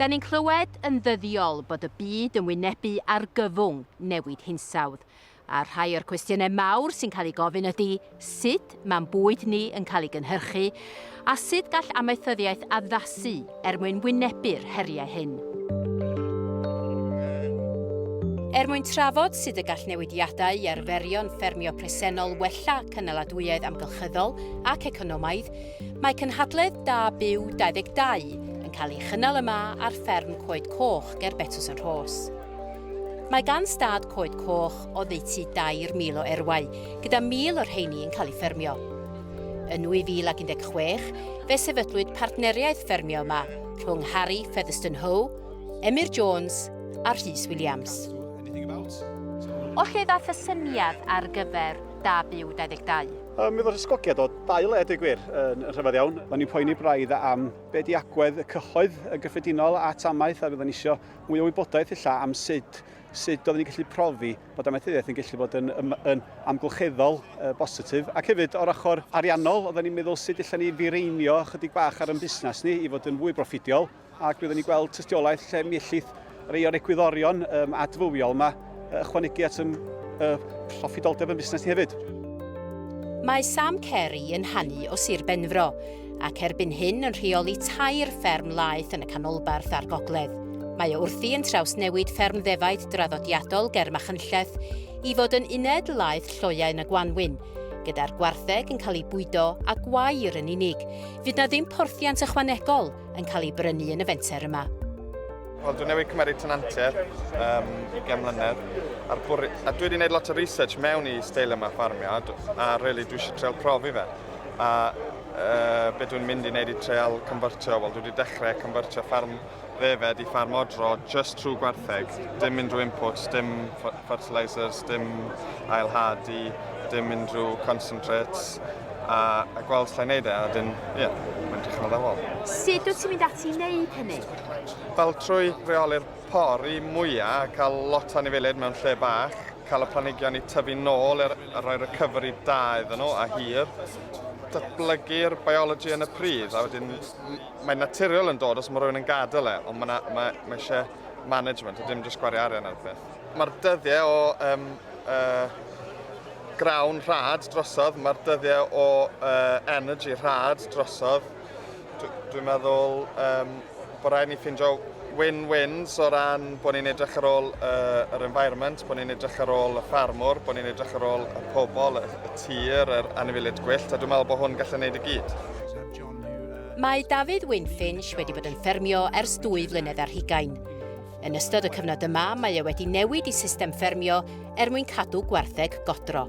Da ni'n clywed yn ddyddiol bod y byd yn wynebu argyfwng newid hinsawdd, a rhai o'r cwestiynau mawr sy'n cael ei gofyn ydy sut mae'n bwyd ni yn cael ei gynhyrchu a sut gall amaethyddiaeth addasu er mwyn wynebu'r heriau hyn. Er mwyn trafod sut y gall newidiadau i arferion ffermio presennol wella cynaladwyedd amgylchyddol ac economaidd, Mae cynhadledd Da Byw 22 yn cael ei chynnal yma ar fferm Coed Coch ger Betws yn Rhos. Mae gan stad Coed Coch oddeutu 2,000 o erwau, gyda 1,000 o'r rheini yn cael eu ffermio. Yn 2016, fe sefydlwyd partneriaeth ffermio yma rhwng Harry Featherston Hoe, Emyr Jones a Rhys Williams. O lle ddaeth y syniad ar gyfer Da Byw 22? Um, mi oedd yr ysgogiad o dau le, dweud gwir, yn, yn rhyfedd iawn. Oedden ni'n poeni braidd am be di agwedd y cyhoedd yn gyffredinol at amaeth a fydden ni eisiau mwy o wybodaeth illa am sut sut oedden ni'n gallu profi bod amaethyddiaeth yn gallu bod yn, yn, yn amgylcheddol uh, bositif. Ac hefyd, o'r ochr ariannol, oedden ni'n meddwl sut allan ni fireinio chydig bach ar yn busnes ni i fod yn fwy broffidiol. ac byddwn ni'n gweld tystiolaeth lle mi ellith rei o'r egwyddorion um, adfywiol yma ychwanegu at ym, y proffidoldeb yn busnes ni hefyd. Mae Sam Carey yn hannu o Sir Benfro, ac erbyn hyn yn rheoli tair fferm laeth yn y canolbarth a'r gogledd. Mae o wrthi yn trawsnewid fferm ddefaid draddodiadol ger Machynlleth i fod yn uned laeth lloiau yn y Gwanwyn, gyda'r gwartheg yn cael ei bwydo a gwair yn unig. Fydd na ddim porthiant ychwanegol yn cael ei brynu yn y fenter yma. Wel, dwi'n newid cymeriad tenantiaid um, gen mlynedd. A'r bwr... A dwi wedi gwneud lot o research mewn i steil yma ffarmio, a really dwi eisiau treol profi fe. A uh, be dwi'n mynd i wneud i treol cymfyrtio, wel, dwi wedi dechrau cymfyrtio ffarm ddefed i ffarm odro just trwy gwertheg. Dim mynd drwy inputs, dim fertilisers, dim ailhadu, dim mynd drwy concentrates. a, a gweld lle wneud e, a wedyn, ie, yeah, mae'n dechrau meddwl. Sut wyt ti'n mynd ati i wneud hynny? Fel trwy reoli'r pori mwyaf, cael lot o anifeiliaid mewn lle bach, cael y planigion i tyfu nôl er, a rhoi recovery da iddyn nhw a hir, datblygu'r biology yn y pridd, a wedyn mae'n naturiol yn dod os mae rhywun yn gadael e, ond mae, ma, mae eisiau management, a dim jyst gwario arian ar y peth. Mae'r dyddiau o um, uh, grawn rhad drosodd, mae'r dyddiau o uh, energy rhad drosodd. Dwi'n meddwl um, bod rhaid ni ffindio win-wins o ran bod ni'n edrych ar ôl uh, yr environment, bod ni'n edrych ar ôl y ffarmwr, bod ni'n edrych ar ôl y pobl, y, y tir, yr anifiliad gwyllt, a dwi'n meddwl bod hwn gallu gwneud y gyd. Mae David Winfinch wedi bod yn ffermio ers dwy flynedd ar hugain. Yn ystod y cyfnod yma, mae e wedi newid i system ffermio er mwyn cadw gwartheg godro.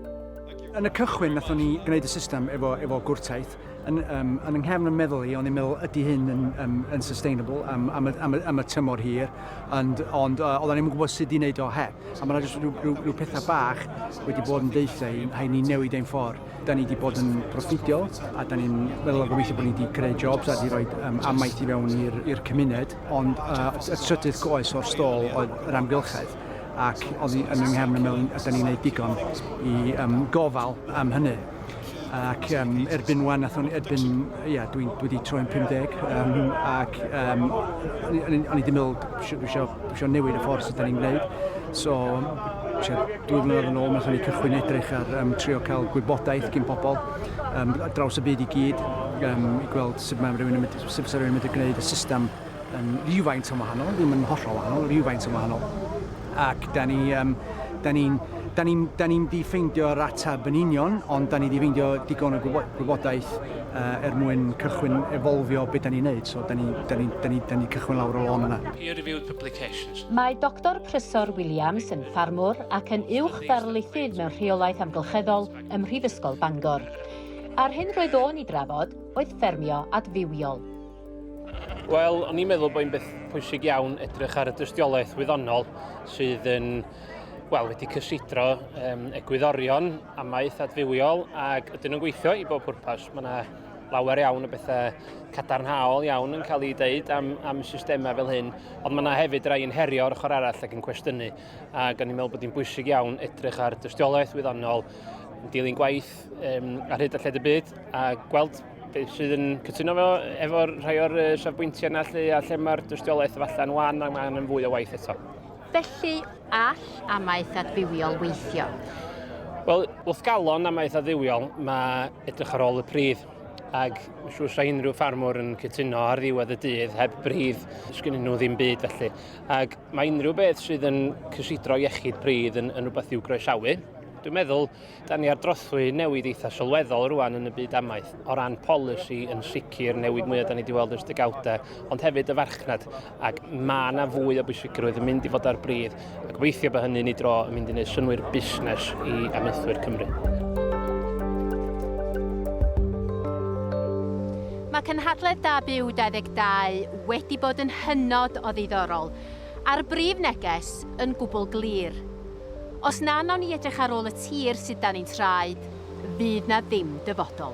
Yn y cychwyn, nathon ni gwneud y system efo, efo gwrtaith. Yn, um, yn yng nghefn yn meddwl i, o'n i'n meddwl, ydy hyn yn, um, yn sustainable am, am, y, am, y, am y tymor hir, ond, ond uh, oedden ni'n gwybod sut i wneud o he. A mae'n rhaid rhyw, rhyw, rhyw pethau bach wedi bod yn deitha i, hai ni newid ein ffordd da ni wedi bod yn proffidiol a da ni'n meddwl o gobeithio bod ni wedi creu jobs a wedi rhoi um, amaeth i fewn i'r cymuned. Ond uh, y trydydd goes o'r stôl oedd yr amgylchedd ac oedd hi yn ynghefn y mewn a da ni'n gwneud digon i um, gofal am hynny. Ac um, erbyn wan, athon, erbyn, ia, dwi, dwi wedi troi'n 50, um, ac um, o'n i wedi meddwl, dwi eisiau newid y ffordd sydd da ni'n gwneud. So, dwy flynedd yn ôl, nath ni cychwyn edrych ar um, trio cael gwybodaeth gyn pobl um, draws y byd i gyd, um, i gweld sut mae rhywun yn mynd sut fysa rhywun yn medru gwneud y system yn rhywfaint yn wahanol, ddim yn hollol wahanol, rhywfaint yn wahanol. Ac da ni, um, da ni'n da ni'n da ni di ffeindio'r ateb yn union, ond da ni di ffeindio digon o gwybodaeth uh, er mwyn cychwyn efolfio beth da ni'n neud. So da ni, da ni, da ni, da ni cychwyn lawr o lôn yna. Peer-reviewed publications. Mae Dr Prysor Williams yn ffarmwr ac yn uwch ddarlithydd mewn rheolaeth amgylcheddol ym Mhrifysgol Bangor. Ar hyn roedd o'n i drafod, oedd ffermio adfywiol. Wel, o'n i'n meddwl bod hi'n beth pwysig iawn edrych ar y dystiolaeth wyddonol sydd yn wel, wedi cysidro um, egwyddorion amaeth adfywiol ac ydyn nhw'n gweithio i bob pwrpas. Mae yna lawer iawn o bethau cadarnhaol iawn yn cael ei dweud am, am systemau fel hyn, ond mae yna hefyd rai yn herio o'r ochr arall ac yn cwestiynu. Ac o'n i'n meddwl bod hi'n bwysig iawn edrych ar dystiolaeth wyddonol, yn dilyn gwaith gwaith um, ar hyd a lled y byd a gweld beth sydd yn cytuno fo efo'r rhai o'r uh, safbwyntiau yna lle, a lle mae'r dystiolaeth yn wan a mae angen fwy o waith eto. Felly, all amaeth adfywiol weithio? Wel, wrth galon amaeth adfywiol, mae edrych ar ôl y pridd ac siw sa unrhyw ffarmwr yn cytuno ar ddiwedd y dydd heb bridd, sgyn nhw ddim byd felly. Ac mae unrhyw beth sydd yn cysidro iechyd pridd yn, yn rhywbeth i'w groesawu. Dwi'n meddwl Dan ni ar drothwy newid eitha sylweddol rwan yn y byd amaeth, o ran polisi yn sicr, newid mwyaf da ni wedi weld ers degawdau, ond hefyd y farchnad, ac mae yna fwy o bwysigrwydd yn mynd i fod ar bryd, a gobeithio bod hynny'n ei dro yn mynd i wneud synwyr busnes i amaethwyr Cymru. Mae cynhadledd Da Byw 22 wedi bod yn hynod o ddiddorol, a'r brif neges yn gwbl glir. Os na wnawn ni edrych ar ôl y tir sydd dan ein traed, fydd 'na ddim dyfodol.